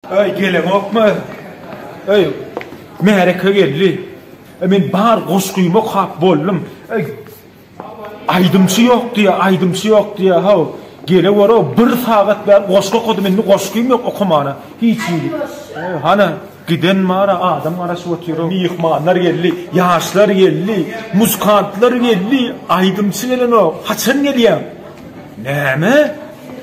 Öý geleňokmy? Öý, märeke geldi. Men bar goşgymy okap boldum. Öý, aýdymçy ýok diýýär, aýdymçy ýok diýýär. Haw, gele gör-ow, bir sagat bäri goşgy okadym, indi goşgym ýok okamana. Hiç hili. Hana, giden bar-a, adam garaşyp otyr-ow. Myhmanlar geldi, ýaşlar geldi, muzykantlar geldi, aýdymçy gelenok. Haçan gelýäň? Näme?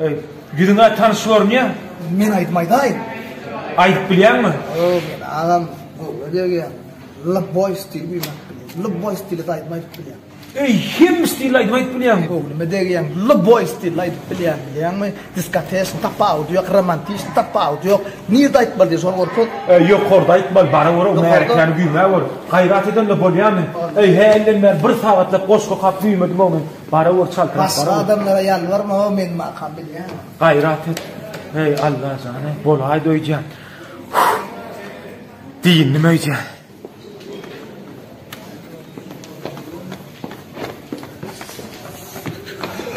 Eý, ýüzüň-ä tanyş görünýär. Men aýdym aýdaýyn. Aýdyp bilýäňmi? Hawa, men agam Gowuly degýän. Lybboý stil bilen aýdyp bilýän. Lybboý stilde aýdym aýdyp bilýän. Eý, hemme stilde aýdym aýdyp bilýäňmi? Gowulymy degýän. Lybboý stilde aýdyp bilýän, bilýäňmi? Diskoteşni tapawudy ýok, romantiçni tapawudy ýok. Nirde aýtmaly diýseň, şol görkez. Eý, ýokarda aýtmaly, bara-göre o märekäni güýmä gör. Gaýrat edende bolýamy? Eý, hälden bäri bir sagatlap goşgy okap güýmedim-ow men. Bara gör çaltrak bara. Başga adamlara ýalbarma-ow men makam bilýän. Gaýrat et. Heý Allah jany bolaý doýjan. Diýin nime öýjan.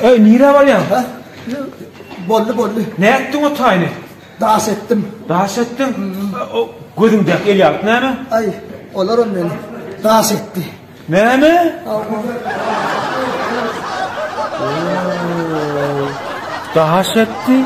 Öý nire barýan? Ha? Bolly bolly. Ne etdiň o taýny? Daş etdim. Daş etdiň? O gözüňde el ýalyp näme? Ay, olar on meni. Daş etti. Näme? Daş etdi.